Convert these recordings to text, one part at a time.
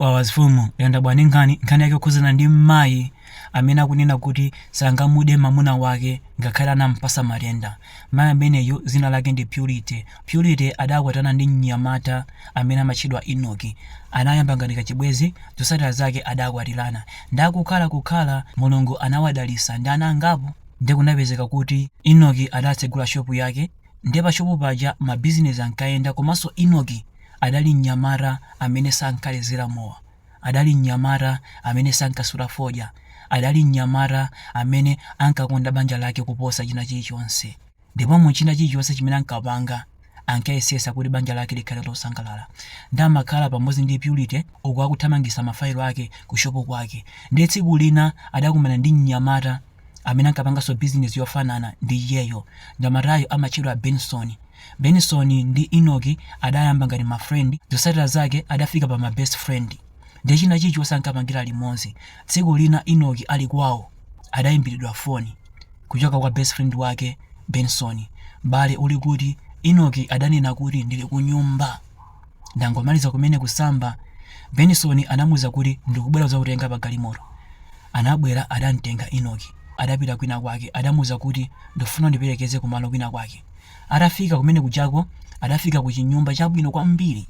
wawa mfumu yanga bwani nkhani nkhani yake okhuzana ndi mmayi amene akunena kuti sangamude mamuna wake ngakhale anampasa matenda mayi ameneyu zina lake ndi purity purity adakwatana ndi mnyamata amene amatchedwa enoki anayamba ngati kachibwezi zosatira zake adakwatirana nde akukhala kukhala mulungu anawadalisa ndi ana angapo nde kunapezeka kuti enoki adatsegula shopu yake Ndiye pa shopu paja ma business ankayenda komanso Enoki adali mnyamata amene sankalezera mowa, adali mnyamata amene sankasuta fodya, adali mnyamata amene ankakonda banja lake kuposa china chilichonse ndipo mu china chilichonse chimene ankapanga ankayesesa kuti banja lake likhale losangalala nde amakhala pamodzi ndi Purity uku akuthamangisa ma fayilo ake ku shopu kwake. Ndiye tsiku lina adakumana ndi mnyamata amene ankapanganso bizinesi yofanana ndi iyeyo. Mnyamatayu amatchedwa Benson. Benson ndi Enoch adayamba ngati ma friend, zotsatira zake adafika pa ma best friend. Ndiye china chilichonse ankapangira limodzi. Tsiku lina Enoch ali kwawo adaimbiridwa foni kuchoka kwa best friend wake Benson. M'bale uli kuti? Enoch adanena kuti, ndili kunyumba. Ndangomaliza kumene kusamba, Benson anamuuza kuti ndikubwera kudzakutenga pa galimoto. Anabwera adamtenga Enoki adapita kwina kwake adamuuza kuti ndikufuna undiperekeze kumalo kwina kwake. Atafika kumene kujako adafika ku chinyumba chabwino kwambiri.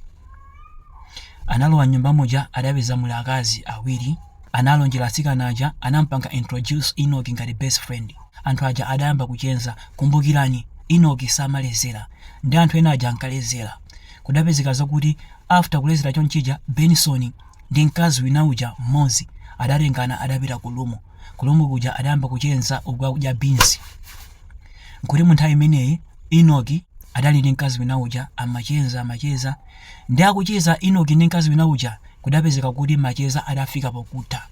Analowa mnyumba muja adapeza muli akazi awiri. Analonjera atsikana aja anampanga introduce Enoki ngati best friend. Anthu aja adayamba kucheza. Kumbukirani Enoki samalezera. Nde anthu ena aja ankalezera. Kudapezeka zokuti after kulezera chonchija Benson ndi mkazi wina uja mmodzi adatengana adapita ku room. Ku room kuja adayamba kucheza uku akudya beans. Nkuti munthawi imeneyi Enoch adali ndi mkazi wina uja amacheza amacheza nde akucheza Enoch ndi mkazi wina uja kudapezeka kuti macheza adafika pokutha.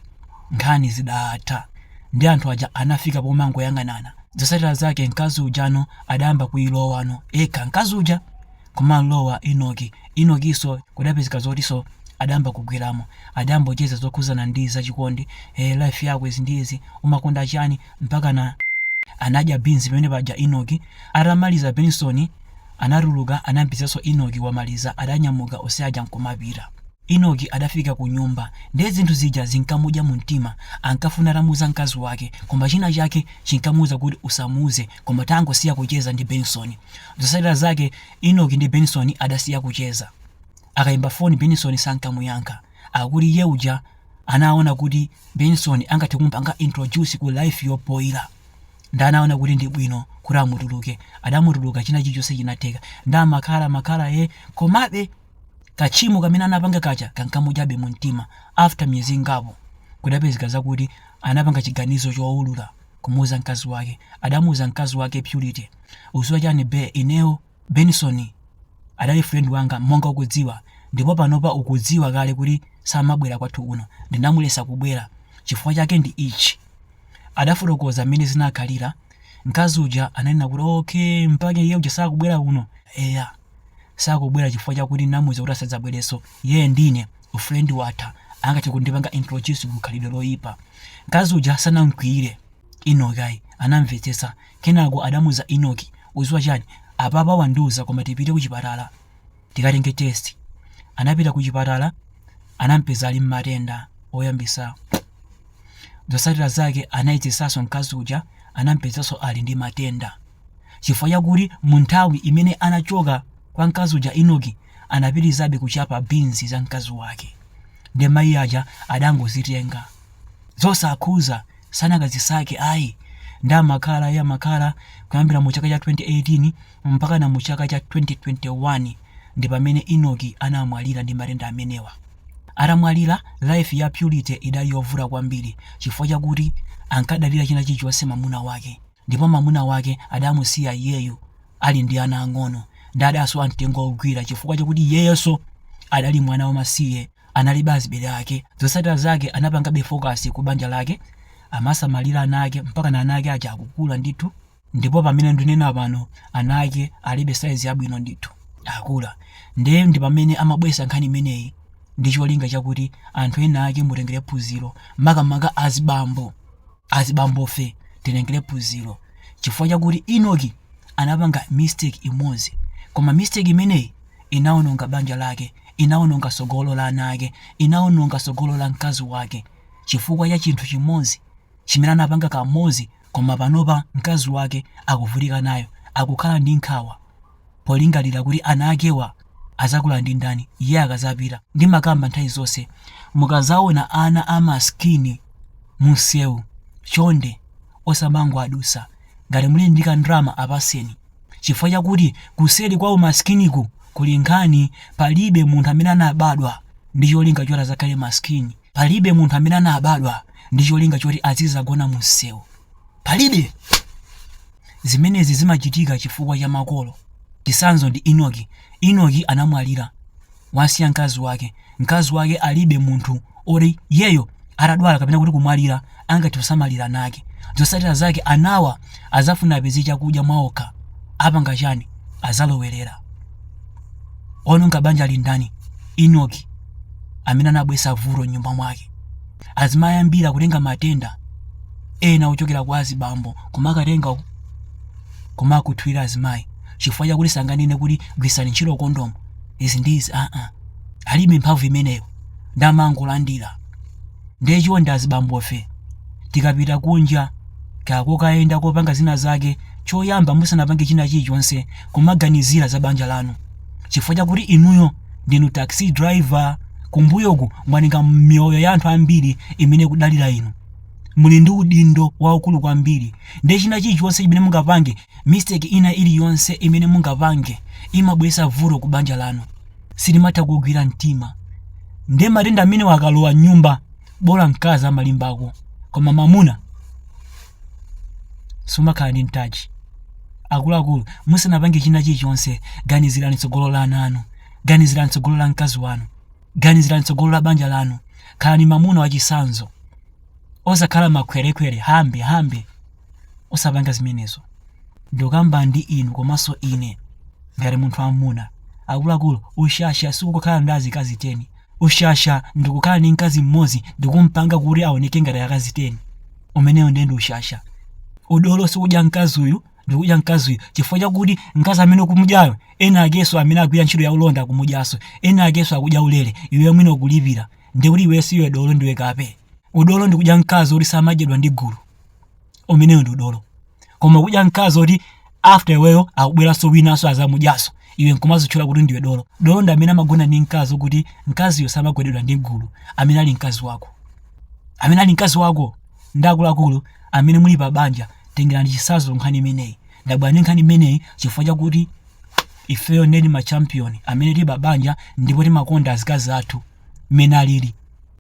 Nkhani zidatha nde anthu aja anafika pomangoyang'anana. Zosatira zake mkazi ujano adayamba kuilowano yekha mkazi uja. kumamulowa Enoki. Enokinso kudapezeka zotinso adayamba kugweramo, adayambocheza zokhudzana ndi za chikondi, eh life yako izi ndi izi, umakonda chani, mpakana anadya beans pamene paja Enoki. Atamaliza Benson anatuluka anamupezanso Enoki wamaliza, adanyamuka onse aja nkumapita. Enoki adafika kunyumba nde zinthu zija zinkamudya mumtima, ankafuna atamuuza mkazi wake koma china chake chinkamuuza kuti usamuuze, Koma tangosiya kucheza ndi Benson. Zotsatira zake Enock ndi Benson adasiya kucheza. Akaimba foni Benson sankamuyankha. Akuti iye uja anaona kuti Benson angathe kumupanga introduce ku life yopoira. Nde anaona kuti ndi bwino kuti amutuluke. Adamutuluka china chilichonse chinatheka. Nde amakhala amakhala ee komabe katchimo kamene anapanga kaja kankamudyabe mumtima. After miyezi ingapo kudapezeka zakuti anapanga chiganizo choulula. kumuuza mkazi wake adamuuza mkazi wake purity udziwa chani be ineyo Benson adali friend wanga monga ukudziwa ndipo panopa ukudziwa kale kuti samabwera kwathu kuno ndinamuletsa kubwera chifukwa chake ndi ichi adafotokoza mmene zinakhalira mkazi uja ananena kuti okay mpake iye uja sakubwera kuno eya sakubwera chifukwa chakuti namuuza kuti asadzabwerenso iyeyo ndi ine ufrendi watha angathe kundipanga introduce ku khalidwe loyipa mkazi uja sanamkwiyire Enock ayi anamvetsetsa kenako adamuuza Enock udziwa chani apapa wandiuza koma tipite kuchipatala tikatenge test anapita kuchipatala anampeza ali ndi matenda oyambisa zotsatira zake anayezetsanso mkazi uja anampezanso ali ndi matenda chifukwa chakuti mu nthawi imene anachoka kwa mkazi uja Enock anapitirizabe kuchapa beans za mkazi wake ndiye mayi aja adangozitenga zosakhuza sanakazisake ayi nde amakhala ee amakhala kuyambira mu chaka cha 2018 mpakana mu chaka cha 2021 ndi pamene Enock anamwalira ndi matenda amenewa atamwalira life ya purity idali yovuta kwambiri chifukwa chakuti ankadalira china chilichonse mwamuna wake Ndipo mamuna wake adamusiya iyeyu ali ndi ana ang'ono, nde adasowa mtengo ogwira chifukwa chakuti iyeyonso adali mwana wamasiye analibe azibale ake, zotsatira zake anapangabe focus ku banja lake, amasamalira ana ake mpakana ana ake aja akukula ndithu ndipo pamene ndunena pano ana ake ali pa size yabwino ndithu akula nde ndipamene amabweretsa nkhani imeneyi ndi cholinga chakuti anthu ena ake mutengere phunziro makamaka azibambo azibambofe titengere phunziro chifukwa chakuti Enock anapanga mistake imodzi koma mistake imeneyi inaononga banja lake inaononga tsogolo la ana ake inaononga tsogolo la mkazi wake chifukwa cha chinthu chimodzi chimene anapanga kamodzi koma panopa mkazi wake akuvutika nayo akukhala ndi nkhawa polingalira kuti ana akewa adzakula ndi ndani iye akadzapita ndimakamba nthawi zonse mukadzaona ana a maskini mumsewu chonde osamangowadutsa ngati muli ndi kandalama apatseni chifukwa chakuti kuseri kwa umaskiniku kuli nkhani palibe munthu amene anabadwa ndi cholinga choti adzakhale maskini Palibe munthu amene anabadwa ndi cholinga choti azidzagona mumsewu. Palibe! Zimenezi zimachitika chifukwa cha makolo. Chitsanzo ndi Inoki. Inoki anamwalira, wasiya mkazi wake. Mkazi wake alibe munthu oti iyeyo atadwala kapena kuti kumwalira angathe kusamalira ana ake zotsatira zake anawa azafuna apeze chakudya mwaokha apanga chani azalowerera ononga banja ali ndani inoki amene anabwesa vuto nyumba mwake azimayambira kutenga matenda ena ochokera kwa azibambo kumakatenga kumakuthwira azimayi chifukwa chakuti sanganene kuti gwiritsani ntchito kondomu izi ndi izi aa alibe mphamvu imeneyo nde amangolandira ndiye chonde azibambofe tikapita kunja kako kokayenda kopanga zina zake choyamba musanapange china chilichonse kumaganizira za banja lanu chifukwa chakuti inuyo ndinu taxi driver kumbuyoku mwatenga miyoyo ya anthu ambiri imene ikudalira inu muli ndi udindo waukulu kwambiri ndiye china chilichonse chimene mungapange mistake ina iliyonse imene mungapange imabweretsa vuto ku banja lanu sitimatha kugwira mtima nde matenda amenewa akalowa mnyumba bola mkazi amalimbako koma mamuna sumakhala ndi mtaji akuluakulu musanapange china chilichonse ganizirani tsogolo la ana anu ganizirani tsogolo la mkazi wanu ganizirani tsogolo la banja lanu khalani mamuna wachisanzo osakhala makhwerekhwere hambe hambe osapanga zimenezo ndikukamba ndi inu komanso ine ngati munthu wamuna akuluakulu ushasha sikukhala ndi azikazi 10 ushasha ndikukhala ndi mkazi mmodzi ndikumpanga kuti aoneke ngati akazi 10 umenewo ndiye ndi ushasha udolo sikudya mkazi uyu ndikudya mkazi uyu chifukwa chakuti mkazi amene ukumudyayo ena akenso amene akugwira ntchito ya ulonda akumudyanso ena akenso akudya ulere iwe mwini ukulipira ndikuti iwe siwe dolo ndiwe kape udolo ndikudya mkazi oti samadyedwa ndi gulu umenewo ndi udolo koma kudya mkazi oti after iweyo akubweranso winanso azamudyanso iwe nkumazitchula kuti ndiwe dolo dolo ndi amene amagona ndi mkazi okuti mkaziyo samagwededwa ndi gulu amene ali mkazi wako amene ali mkazi wako ndi akuluakulu amene muli pa banja tengerani chisanzo nkhani imeneyi ndabwera ndi nkhani imeneyi chifukwa chakuti ifeyo ndeni ma champion amene tili pa banja ndipo timakonda azikazi athu mmene alili